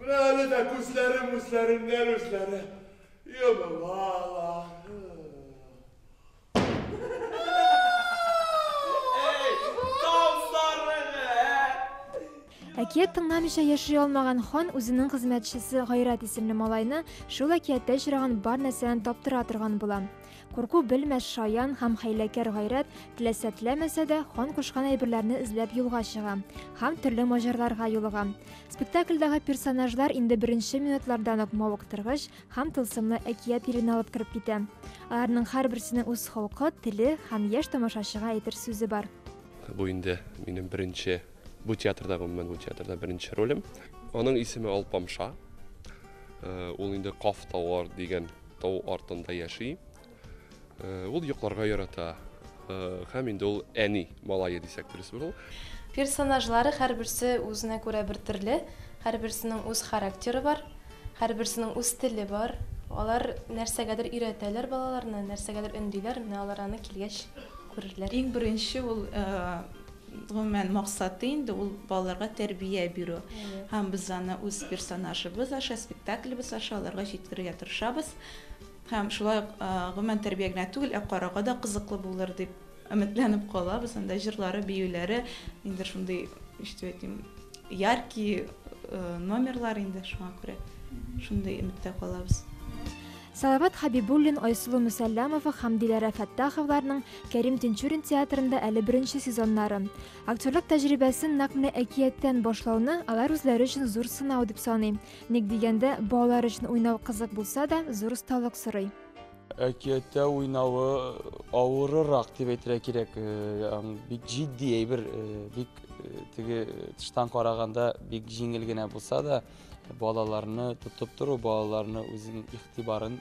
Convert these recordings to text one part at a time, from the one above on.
Менә әле дә күзләрем үзләреннән-үзләре йомылалар. Әй, тау сарыгы, ә! Әкият тыңламыйча яши алмаган хан үзенең хезмәтчесе Гайрат исемле малайны шул әкияттә очраган бар нәрсәдән таптыра торган була. Курку белмәс шаян һәм хәйләкәр гайрәт теләсә теләмәсә дә хан кушкан әйберләрне эзләп юлга чыга һәм төрле маҗарларга юлыга. Спектакльдәге персонажлар инде беренче минутлардан ук мавыктыргыч һәм тылсымлы әкият иленә алып кереп китә. Аларның һәрберсенең үз холкы, теле һәм яшь тамашачыга әйтер сүзе бар. Бу инде минем беренче бу театрда гомумән бу театрда беренче ролем. Аның исеме Алпамша. Э, ул инде Каф Тавар дигән Тау артында яши. Ул йокларга ярата. Һәм инде ул әни малае дисәк дөрес булыр. Персонажлары һәрберсе үзенә күрә бер төрле, һәрберсенең үз характеры бар, һәрберсенең үз теле бар. Алар нәрсәгәдер өйрәтәләр балаларны, нәрсәгәдер өндиләр, менә алар аны килгәч күрерләр. Иң беренче ул Гомумән, максаты инде ул балаларга тәрбия бирү. Һәм без аны үз персонажыбыз аша, спектаклебез аша аларга җиткерергә тырышабыз. Һәм шулай ук, гомумән, тәрбия генә түгел, ә карауга да кызыклы булыр дип өметләнеп калабыз. Анда җырлары, биюләре инде шундый, ничек дип әйтим, яркий номерлар инде, шуңа күрә шундый өметтә калабыз. Салават Хәбибуллин, Айсылу Мөсәлләмова һәм Диләрә Фәттаховларның Кәрим Тинчурин театрында әле беренче сезоннары. Актерлык тәҗрибәсен нәкъ менә әкияттән башлауны алар үзләре өчен зур сынау дип саный. Ник дигәндә, балалар өчен уйнау кызык булса да, зур осталык сорый. Әкияттә уйнавы авырырак дип әйтергә кирәк. Э, бик җитди әйбер, э, бик э, теге тыштан караганда бик җиңел генә булса да, балаларны тотып тору, балаларны үзенең игътибарын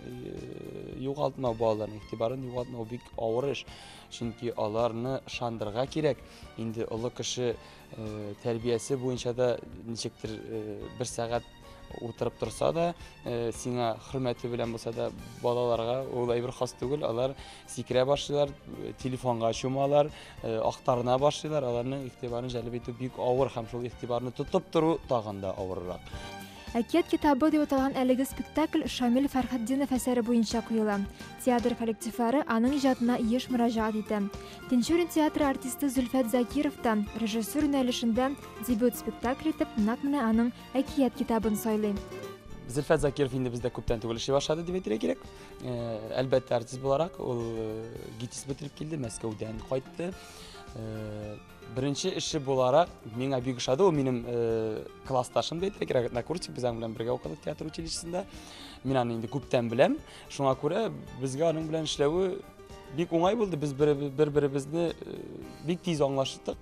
югалтмау, балаларның игътибарын югалтмау бик авыр эш. Чөнки аларны шандырга кирәк. Инде олы кеше тәрбиясе буенча да ничектер бер сәгать утырып торса да, сиңа хөрмәте белән булса да, балаларга ул әйбер хас түгел, алар сикерә башлыйлар, телефонга чумалар, э, актарына башлыйлар, аларның игътибарын җәлеп итү бик авыр һәм шул игътибарны тотып тору тагын да авыррак. Әкият китабы дип аталган әлеге спектакль Шамил Фәрхетдинов әсәре буенча куела. Театр коллективлары аның иҗатына еш мөрәҗәгать итә. Тинчурин театры артисты Зөлфәт Закиров та режиссер юнәлешендә дебют спектакль итеп нәкъ менә аның Әкият китабын сайлый. Зөлфәт Закиров инде бездә күптән түгел эшли башлады дип әйтергә кирәк. Әлбәттә, артист буларак ул ГИТИС бетереп килде, Мәскәүдән кайтты. Беренче эше буларак миңа бик ошады, ул минем классташым да әйтә кирәк, однокурсник, без аның белән бергә укыдык театр училищесында. Мин аны инде күптән беләм. Шуңа күрә безгә аның белән эшләве бик уңай булды. Без бер-беребезне бик тиз аңлаштык.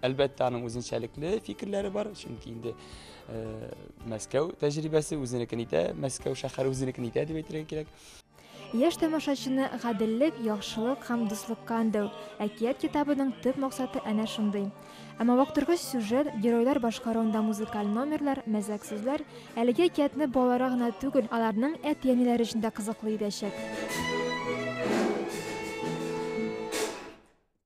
Әлбәттә, аның үзенчәлекле фикерләре бар, чөнки инде э, Мәскәү тәҗрибәсе үзенекен итә, Мәскәү шәһәре үзенекен итә дип әйтергә кирәк. Яшь тамашачыны гаделлек, яхшылык һәм дуслыкка өндәү. Әкият китабының төп максаты әнә шундый. Әмма вакытргыч сюжет, геройлар башкаруында музыкаль номерлар, мәзәк сүзләр әлеге әкиятне балаларга гына түгел, аларның әти-әниләре өчен дә кызыклы итәчәк.